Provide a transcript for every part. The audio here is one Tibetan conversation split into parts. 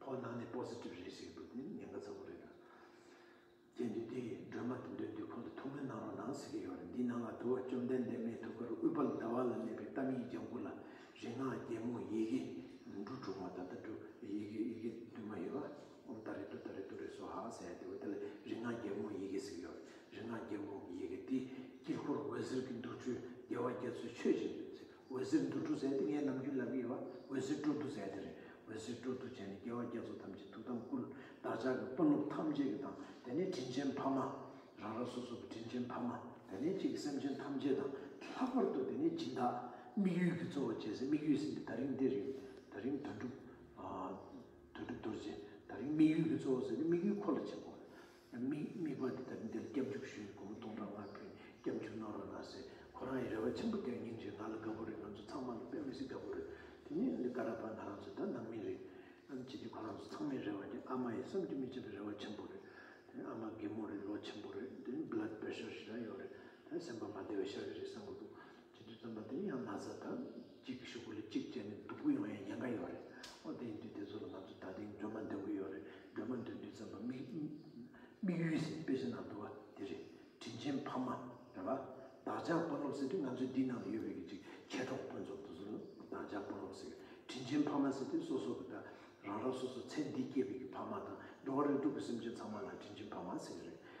ཕོ་ནང་ནས positive རེད་ཟེར་གྱི་འདུག་དེ་ནི་ཉེན་ཁ་ཚ་པོ་རེད། དེ་འདུས་དེ་སྒྲོལ་མ་དེ་འདུས་འདུས་ཁོང་དུ་ཐུག་མེད་གནང་རོགས་གནང་ཟེར་གྱི་ཡོད་རེད་འདི་ནང་ལ་དུ་བ་བཅོམ་ལྡན་འདས་མའི་ཐུགས་ཀར་ཨུད་པལ་ཟླ་བ་ལ་གནས་པའི་གཏམ་ཡིག་ལྗང་གུ་ལ་རིག་སྔགས་རྒྱལ་མོ་ཡི་གེ་འབྲུ་དྲུག་མ་ད་ལྟ་འབྲུ་ཡི་གེ་ཡི་གེ་བདུན་མ་ཡོད་པ་ད་རེ་དུ་ད་རེ་དུ་རེ་སོ་ཧ་ཟེར་ཡ་དེ་བས་དེ་ལ་རིག་སྔགས་རྒྱལ་མོ་ཡི་གེ་ཟེར་གྱི་ཡོད་རེད་རིག་སྔགས་རྒྱལ་མོ་ཡི་གེ་དེ་དཀྱིལ་འཁོར་འོད་ཟེར་གྱི་འདུར་འཕྲུལ་རྒྱལ་བ་རྒྱ་མཚོས་མཆོད་ཅིང་འོད་ཟེར་འདུ་འཕྲོ་ཟད་དེ་ངའི་ནམ་རྒྱུན་ལབ་ཀྱི་ཡོད་པ་འོད་ཟེར་སྤྲོ་བསྡུ་ཟད་དེ་རེད་འོད་ཟེར་སྤྲོ་བསྡུ་བྱས་ནས་རྒྱལ་བ་རྒྱལ་ཚོགས་ཐམས་ཅད་ཐུགས་དམ་བསྐུལ། བདག་ཅག་གི་དཔོན་སློབ་ཐམས་ཅད་ཀྱི་དང་དེ་ནས་དྲིན་ཆེན་ཕ་མ། རང་རང་སོ་སོ་གི་དྲིན་ཆེན་ཕ་མ་དེ་ནས་ཁྱེད་ཀྱི་སེམས་ཅན་ཐམས་ཅད་དང་ལྷག་པར་དུ་དེ་ནས་སྦྱིན་བདག། དམིགས་ཡུལ་གྱི་གཙོ་བོ་བྱས་ཟིན་དམིགས་ཡུལ་ཟིན་པའི་ད་རིང་འདིར་ཡོད་ད་རིང་དོན་གྲུབ། དོན་གྲུབ་རྡོ་རྗེ་ད་རིང་དམིགས་ཡུལ་གྱི་གཙོ་བོ་ཟིན་ཏེ་དམིགས་ཡུལ་ཁོ་ལ་བྱེད་དགོས། མིག་དམིགས་པ་འདི་ལྟར་འདིར་སྐྱབས་འཇུག་ཞུས་ནས་དགོང་མོ་སྟོང་ཕྲག་ལྔ་བུའི་སྐྱབས་འཇུག་གནང་རོགས་གནང་ཟེར་ཁོ་རང་ཡི་རེ་བ་ཆེན་པོ་བསྐྱངས་ཉིན་རེ་ང་ལ་དགའ་པོ་རེད་ང་ཚོ་ཚང་མ་ལ་དཔེ་མི་སྲིད་དགའ་པོ་རེད་དེ་ནས་འདི་ཀ་ར་པ་ང་རང་ཚོ་ད་ནང་མི་རེད་ཨམ་ཅི་སྟེ་ཁོ་རང་ཚོ་ཚང་མའི་རེ་བ་དེ་ཨ་མ་ཡི་བསམ་རྒྱུ་མི་བྱེད་པའི་རེ་བ་ཆེན་པོ་རེད་དེ་ཨ་མ་རྒན་མོ་རེད་ལོ་ཆེན་པོ་རེད་དེ Blood Pressure ཞེ་དྲག་ཡོད་རེད་དེ་སེམས་པ་མ་བདེ་བའི་ཤར་གི་རེད་བསམ་གི་འདུག། ཇི་འདྲའི་བཙན་པ་དེ་ཡང་ན་བཟའ་དང་གཅིག་གི་ཤོག་བུ་ལས་གཅིག་བཅད་ནས་བསྡུ་དགོས་ཡོང་ཡ་ཡན་ག་ཡོད་རེད་ཨོ་དེ་ཡིན་དུས་དེ་ཚོ་ལ་ང་ཚོ་ད་ཐེངས་སྒྲོལ་མ་འདོན་གི་ཡོད་རེད་སྒྲོལ་མ་འདོན་དུས་བཙན་པ་དམིགས་ཡུལ་ཟེར་དཔེ་ཆ་ནང་འདུག་ག་དེ་རེད་དྲིན་ཆེན་ཕ་མ་རེད་བ་བདག་ཅག་དཔོན་སློབ་ཟེར་དུས་ང་ཚོའི་འདི་ནང་ལ་ཡོད་པའི་གི་གཅིག་མཁས་གྲོགས་དཔོན་ཚོགས་དེ་ཚོ་ལ་བདག་ཅག་དཔོན་སློབ་ཟེར་དྲིན་ཆེན་ཕ་མ་ཟེར་དུས་སོ་སོ་གི་ད་རང་རང་སོ་སོ་ཚེ་འདི་སྐྱེས་པའི་གི་ཕ་མ་དང་འགྲོ་བ་རིགས་དྲུག་གི་སེམས་ཅན་ཚང་མ་ལ་དྲིན་ཆེན་ཕ་མ་ཟེར་གི་རེད་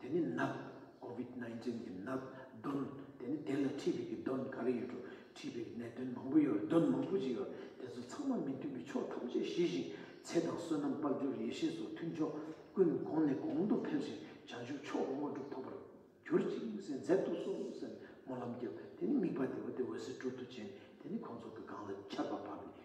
དེ་ནི་ནག། Covid nineteen གྱི་ནག། གདོན། དེ་ནི་དེ་ལ་འཁྲིས་པའི་གྱི་གདོན་ག་རེ་ཡོད་འགྲོ། འཁྲིས་པའི་གྱི་ནད་གདོན་མང་པོ་ཡོད་གདོན་མང་པོ་ཅིག་ཡོད། དེ་ཚོ་ཚང་མ་མི་མཐུན་པའི་ཕྱོགས་ཐམས་ཅད་ཞི་ཞིང། ཚེ་དང་བསོད་ནམས་དཔལ་འབྱོར་ཡེ་ཤེས་སོགས་མཐུན་ཕྱོགས་ཀུན་གོང་ནས་གོང་དུ་འཕེལ་ཞིང་བྱང་ཆུབ་མཆོག་དངོས་གྲུབ་ཐོབ་པར། གྱུར་ཅིག་མི་ཟད་མཛད་དུ་གསོལ། སྨོན་ལམ་རྒྱབ། དེ་ནི་དམིགས་པ་དེ་བ་དེ་འོད་ཟེར་སྤྲོ་བསྡུ་ཅན། དེ་ནི་གོང་མཚུངས་ཀྱི་སྒང་ལ་ཆར་པ་བབས་པའི་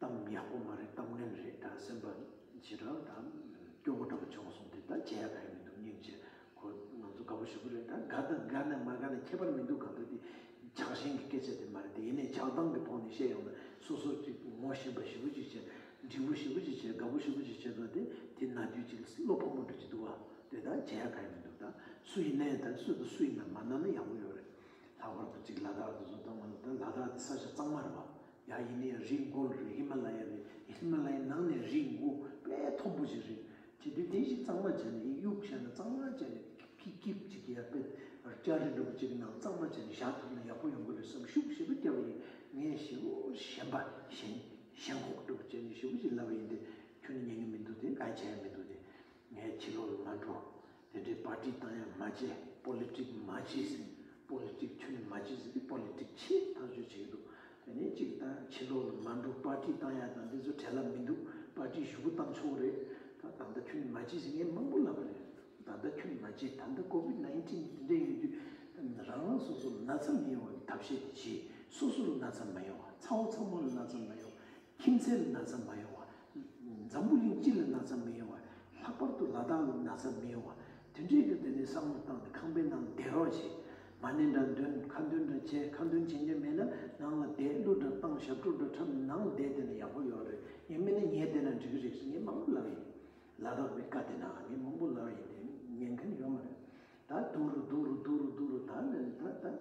གཏམ་ཡག་པོ་མ་རེད་གཏམ་ངན་རེད་ད་སེམས་པ་ཇི་དྲག་ད་སྐྱོ་བོ་འདྲ་བོ་བྱུང་སོང་དེ་ད་བྱེད་ཡ་ག་ཡ་མི་འདུག་སྙིང་རྗེ་ཁོ་ང་ཚོ་དགའ་བོ་ཞུ་གི་རེད་ད་དགའ་དང་དགའ་ན་མ་དགའ་ན་ཁྱད་པར་མི་འདུག་ག་འདུག་དེ་ཇག་ཞན་གི་སྐད་ཆ་དེ་མ་རེད་དེ་ཡིན་ནའི་ཇག་སྟངས་ཀྱི་ཐོག་ནས་བཤད་ཡོང་ན་སོ་སོ་གཅིག་ངོ་ཞེན་པ་ཞི་བོ་ཅིག་བྱེད་འགྲིག་པོ་ཞི་བོ་ཅིག་བྱེད་དགའ་བོ་ཞི་བོ་ཅིག་བྱེད་ན་དེ་དེ་ན་དུས་གཅིག་བློ་ཕམ་པོ་འགྲོ་གི་འདུག་ག་དེ་ད་བྱེད་ཡ་ག་ཡ་མི་འདུག་ད་སུ་ཡིན་ནའི་ད་སུ་དང་སུ་ཡིན་ན་མ་གནང་ན་ཡག་པོ་ཡོད་རེད་ལྷག་པར་དུ་གཅིག་ལ་དྭགས་དུ་སོང་ད་ང་ཚོ་ད་ལ་དྭགས་དེ་ས་ཆ་གཙང་མ་རེད་བ་ཡང་ཡིན་ནའི་རི་མགོ་རེད་ཧི་མ་ལ་ཡ་རེད་ཧི་མ་ལ་ཡའི་ནང་ནས་རི་མགོ་དཔལ་མཐོ་པོ་ཞིག་རེད་བྱས་དུས་དེ་བཞིན་གཙང་མ་བྱས་ནས་གཡུག་བྱས་ན་གཙང་མ་བྱས་ནས་ཀིབ་ཀིབ་ཅིག་ཡར་དཔེ་སྐྱ་རི་འགྲོ་ཅིག་ནང་གཙང་མ་བྱས་ནས་བཞག་ཐུབ་ན་ཡག་པོ་ཡོང་གི་རེད་བསམ་ཤུགས་ཞེ་པོ་བསྐྱལ་བ་ཡིན་ངས་ཞེ་བོ་ཞེན་པ་ཞེན་ཞེན་ཁོག་སྒྲུབ་བྱས་ནས་ཞེ་བོ་ཞིག་ལབ་པ་ཡིན་ཏེ་ཁྱོད་ནི་ཉན་གི་མི་འདུག་དེ་ག་ཡི་ཆ་ཡང་མི་འདུག་དེ་ངའི་ཁྱི་ལོ་ལ་མ་འགྲོ། དེ་འདྲའི་པར་ཏི་བཏང་ཡང་མ་བྱས Politic མ་བྱས་ཟེར Politic ཁྱོད་མ་བྱས་ཟེར Politic ཆེས་ཐག་གཅོད་བྱེད་ཀྱི་འདུག་དེ་ནས་གཅིག་ད་ཕྱི་ལོག་ལ་མ་འགྲོ་པར་ཏི་བཏང་ཡ་དང་འདི་ཚོ་བྲལ་ལབ་མི་འདུག་པར་ཏི་བཞུགས་སྒོ་བཏང་ཆོག་རེད་ད་ད་ལྟ་ཁྱོད་མ་བྱས་ཟེར་ངས་མང་པོ་ལབ་པ་རེད་ད་ལྟ་ཁྱོད་མ་བྱས་ད་ལྟ Covid nineteen འདི་འདྲ་ཡོང་དུས་རང་རང་སོ་སོ་ལ་ན་ཚ་མི་ཡོང་བ་གི་ཐབས་ཤེས་དེ་བྱས་སོ་སོ་ལ་ན་ཚ་མ་ཡོང་བ་ཚ་བོ་ཚ་མོ་ལ་ན་ཚ་མ་ཡོང་བ་ཁྱིམ་མཚེས་ལ་ན་ཚ་མ་ཡོང་བ། འཛམ་བུ་གླིང་སྤྱི་ལ་ན་ཚ་མི་ཡོང་བ། ལྷག་པར་དུ་ལ་དྭགས་ལ་ན་ཚ་མི་ཡོང་བ། དུས་འབྲས་ཀྱི་དོན་ནི་བསམ་བློ་བཏང་སྟེ་ཁང་པའི་ནང་ལ་བསྡད་རོགས་བྱས། མ་གནས་འདྲ་འདོན་ཁ་འདོན་འདྲ་བྱས་ཁ་འདོན་བྱེད་མཁན་མེད་ན་ནང་ལ་བསྡད་གླུ་འདྲ་བཏང་ཞབས་བྲོ་འདྲ་འཁྲབ་ནང་ལ་བསྡད་བསྡད་ན་ཡག་པོ་ཡོད་རེད་ངས་སྨྲས་ན་ངས་བསྡད་ན་འགྲིག་གི་རེད་ཟེར་མཁན་མང་པོ་ལབ་ཡིན། ལ་དྭགས་པའི་བཀའ་དེ་ན་ངས་མང་པོ་ལབ་ཡིན་དེ་ཉན་མཁན་ཡོད་མ་རེད། ད་སྡུག་རུ་སྡུག་རུ་སྡུག་རུ་སྡུག་རུ་ད་ད་ད།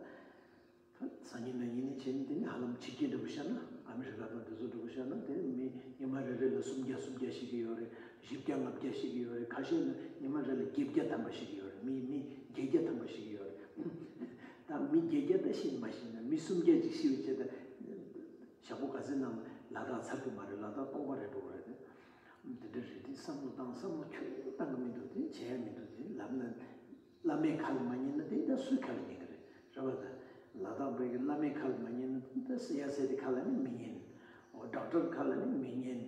སང་ཉིན་ནང་ཉིན་ནས་བྱས་ནས་དེ་ནི་ཧ་ལམ་ཕྱི་རྒྱལ་འགྲོ་གི་ཤར་ན་ཨ་མི་རི་ཀ་དང་དེ་ཚོ་འགྲོ་གི་ཤར་ན་དེ་མི་ཉི་མ་རེ་རེ་ལ་སུམ་བརྒྱ་སུམ་བརྒྱ་ཤི་གི་ཡོད་རེད་བཞི་བརྒྱ་ལྔ་བརྒྱ་ཤི་གི་ཡོད་རེད་ཁ་ཤས་ན་ཉི་མ་རེ་ལ་བརྒྱད་བརྒྱ་ཐམ་པ་ཤི་གི་ཡོད་རེད་མི་མི་བརྒྱད་བརྒྱ་ཐམ་པ་ཤི་གི་ཡོད་རེད་ད་མི་བརྒྱད་བརྒྱ་ད་ཤི་མ་ཤི་ན་མི་སུམ་བརྒྱ་ཅིག་ཤི་བའི་ཆེད་དུ་ཞག་པོ་ག་ཚད་ནང་ལ་ལ་དག་ཚར་གི་མ་རེད་ལ་དག་སྟོང་པ་རེ་འགྲོ་གི་རེད་དེ་འདྲ་རེད་དེ་བསམ་བློ་བཏང་བསམ་བློ་ཁྱོད་ཉིད་ཀྱིས་བཏང་གི་མི་འདུག་དེ་བྱས་ཡ་མི་འདུག་དེ་ལབ་ན། བླ་མའི་ཁ་ལ་མ་ཉན་ན་དེ་ད་སུའི་ཁ་ལ་ཉན་གྱི་རེད་རེད་བ་དང། ལ་དྭགས་བོད་ཀྱི་བླ་མའི་ཁ་ལ་མ་ཉན་ན་དེ་ད་སི་ཡ་སེ་ཏི་ཁ་ལ་ནི་མི་ཉན། འོ་དྲག་དྲག་ཁ་ལ་ནི་མི་ཉན།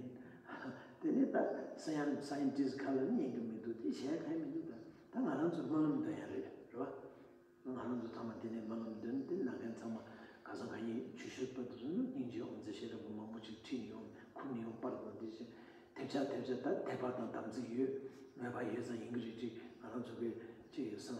དེ་ནི་ད་སི་ཡ་ནི Scientist ཁ་ལ་ནི་ཉན་གྱི་མི་འདུག་དེ་བྱས་ཕན་མི་འདུག་ད་ད་ང་རང་ཚོའི་སྨོན་ལམ་འདོན་ཡ་རེད་རེད་བ། ང་རང་ཚོ་ཚང་མ་དེ་ནས་སྨོན་ལམ་འདོན་དེ་ན་མཁན་ཚང་མ་ག་ས་ག་ཉིད་ཆུ་ཤེལ་པ་དེ་ཚོ་ནི་སྙིང་རྗེའི་ཨོང་རྩེད་ཤེས་རབ་པ་མང་པོ་ཅིག་ཁྲིད་ནི་ཡོང་ཁུར་ནི་ཡོང་པར་དང་དེ་བཞིན་དེབ་ཆག་དེབ་ཆག་ད་དེབ་པར་དང་དམ་ཚིག་ཡོད་མོད་པ་ཡོད་ཙང་ཡིན་གྱི་རེད་ཅིག་ང་རང་ཚོ་གི་ཅིག་སང་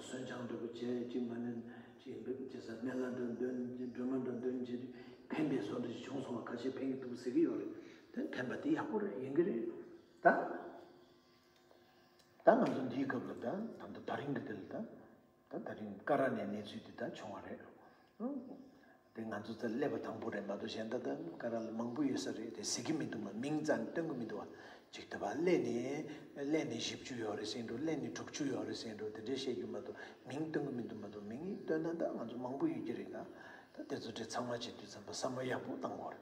སོན་ཆང་འདྲ་པོ་བྱས་ཅིག་མ་ནི་ཅིག་ཇི་ཟེར་མཎྜལ་འདྲ་འདོན་སྒྲོལ་མ་འདྲ་འདོན་བྱས་ཏེ་ཕན་པའི་བཟོ་འདྲ་ཅིག་བྱུང་སོང་བ་ཁ་ཤས་ཕན་གྱི་འདུག་ཟེར་གྱི་ཡོད་རེད་དེ་ཕན་པ་དེ་ཡག་པོ་རེད་ཡིན་གྱི་རེད་ད། ད་ང་ཚོ་འདིའི་སྐབས་ལ་ད་ད་ལྟ་ད་རིང་གི་དེ་ལ་ད། ད་ད་རིང་ཀ་ར་ནས་གནས་ཚུལ་འདི་དག་བྱུང་བ་རེད། དེ་ང་ཚོ་ཚོ་སླེབས་པ་དང་པོ་རེད་མ་གཏོགས་གཞན་ད་ད་ཀ་ར་ལ་མང་པོ་ཡོད་ས་རེད་དེ་གཟིགས་ཀྱི་མི་འདུག་མ་མིང་ཙམ་སྟོན་གྱི་མི་འདུག་བ། ཅིག་ད་བ་སླེ་ནས་སླེ་ནས་བཞི་བཅུ་ཡོད་རེད་ཟེར་འགྲོ་སླེ་ནས་དྲུག་ཅུ་ཡོད་རེད་ཟེར་འགྲོ་དེ་འདྲས་བཤད་རྒྱུ་མ་གཏོགས་མིང་སྟོན་གྱི་མི་འདུག་མ་གཏོགས་མིང་སྟོན་ན་ད་ང་ཚོ་མང་པོ་ཡོད་ཀྱི་རེད་ད། ད་དེ་ཚོ་འདྲས་ཚང་མ་བྱེད་དུས་ཙམ་པ་བསམ་བློ་ཡག་པོ་གཏང་དགོས་རེད།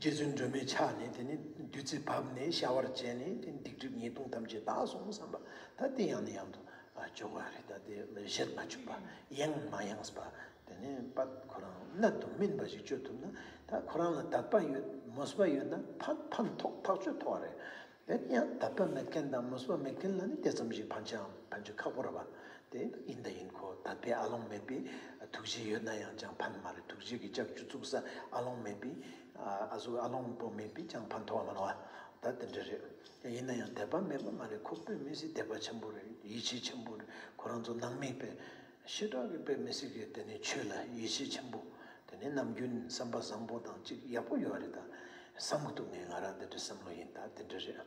རྗེ་བཙུན་སྒྲོལ་མས་ཕྱག་ནས་དེ་ནས་བདུད་རྩི་བབས་ནས་བྱ་བར་བྱས་ནས་དེ་སྡིག་སྒྲིབ་ཉེས་ལྟུང་ཐམས་ཅད་དག་སོང་བསམ་པ་ད་དེ་ཡང་ནས་ཡང་དུ་བྱུང་བ་རེད་ད་དེ་བཞིར་མ་བྱུང་པ་ཡེངས་མ་ཡེངས་པ་དེ་ནས་པ་ཁོ་རང་གནད་དུ་སྨིན་པ་ཞིག་སྤྱོད་ཐུབ་ན་ད་ཁོ་རང་ལ་དད་པ་ཡོད་མོས་པ་ཡོད་ན་ཕ་ཕན་ཐོགས་ཐག་ཆོད་ཐོགས་རེད་དེ་ནི་ཡང་དག་པའི་མེད་མཁན་དང་མུས་པ་མེད་མཁན་ལ་ནི་དེ་ཙམ་ཞིག་ཕན་ཆའམ་ཕན་ཆོད་ཁག་པོ་རེད་པ། དེ་ཡིན་དང་ཡིན་གོ་དག་པའི་ཨ་ལོང་མེད་པའི་ཐུགས་རྗེ་ཡོད་ན་ཡང་ཅང་ཕན་ནི་མ་རེད་ཐུགས་རྗེ་གི་ལྕགས་ཀྱུ་བཙུགས་ས་ཨ་ལོང་མེད་པའི་གཟུགས་ཨ་ལོང་པོ་མེད་པས་ཅང་ཕན་ཐོགས་མ་ལོང་ཨ། ད་དེ་འདྲ་རེད། ཡིན་ན་ཡང་དད་པ་མེད་པ་མ་རེད་ཁོ་བོས་མི་སྲིད་དད་པ་ཆེན་པོ་རེད་ཡིད་ཆེས་ཆེན་པོ་རེད་ཁོ་རང་ཚོ་ནང་མི་པས། ཤེས་རབ་ཀྱི་དཔེ་མི་སྲིད་ཀྱི་དེ་ནི་ཆོས་ལ་ཡིད་ཆེས་ཆེན་པོ་དེ་ནི་ནམ་རྒྱུན་བསམ་པ་བཟང་པོ་དང་གཅིག་ཡག་པོ་ཡོད་རེད་ད་བསམ་མ་ཐུབ་ངས་ང་རང་དེ་འདྲའི་བསམ་བློ་ཡིན་ད་དེ་འདྲ་རེད་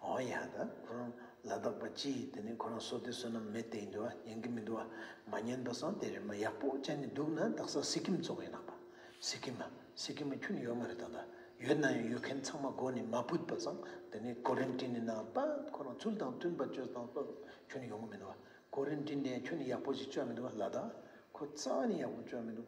འོ་ཡ་ད་ཁོ་རང་ལ་དྭགས་པ་སྤྱི་དེ་ནི་ཁོ་རང་སོ་དེ་བསོད་ནམས་མེད་དེ་ཡིན་དུ་ཉན་གི་མི་འདུག་ཨ་མ་ཉན་པ་བཟང་དེ་རེད་མ་ཡག་པོ་ཅན་ནི་འདུག་ན་དྭགས་ས་སི་ཀིམ་གཙོ་བོ་ཡིན་ནག་པ་སི་ཀིམ་མ་སི་ཀིམ་མ་ཁྱོད་ནི་ཡོད་མ་རེད་ད་ད་ཡོད་ན་ཡང་ཡོད་མཁན་ཚང་མ་སྒོ་ནས་མ་བུད་པ་བཟང་དེ་ནི་ཀོ་རིན་ཏིན་ནི་ནང་པ་ཁོ་རང་ཚུལ་དང་མཐུན་པ་སྤྱོད་བཟང་བསོད་ནམས་ཁྱོད་ནི་ཡོང་གི་མི་འདུག་གོ་རིམ་འདི་འདྲས་ཁྱོད་ནི་ཡག་པོ་ཞིག་སྤྱོད་མི་འདུག་བ་ལ་དྭགས་ཁོ་རྩ་བ་ནས་ཡག་པོ་སྤྱོད་མི་འདུག་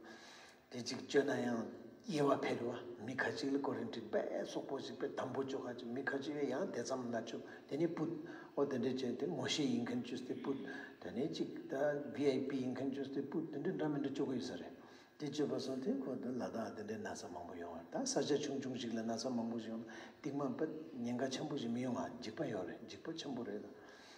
དེ་གཅིག་སྤྱོད་ན་ཡང་དབྱེ་བ་འཕེལ་བ་མི་ཁ་ཅིག་ལ་གོ་རིམ་འགྲིག་པས་སོག་པོ་ཞིག་པས་དམ་པོ་སྤྱོད་ཁ་ཅིག་མི་ཁ་ཅིག་ལ་ཡང་དེ་ཙམ་ན་ཆུ་དེ་ནི་སྤུད་ཨོ་དེ་འདྲས་སྤྱོད་དེ་ངོ་ཤེས་ཡིན་མཁན་ཅུས་དེ་སྤུད་དེ་ནི་གཅིག་ད་བྷི་ཨའི་པི་ཡིན་མཁན་ཅུས་དེ་སྤུད་དེ་འདྲས་འདྲ་མི་འདྲ་སྤྱོད་ཀི་ཡོད་ས་རེད་དེ་སྤྱོད་པ་སོགས་དེ་ཁོ་དེ་ལ་དྭགས་དེ་འདྲས་ན་ཚ་མང་པོ་ཡོང་ད་ས་ཆ་ཆུང་ཆུང་ཞིག་ལ་ན་ཚ་མང་པོ་ཞིག་ཡོང་ན་སྡིག་མ་པད་ཉེན་ཁ་ཆེན་པོ་ཞིག་མི་ཡོང་ང་འཇིག་པ་ཡོང་རེད་འཇིག་པ་ཆེན་པོ་རེད་ད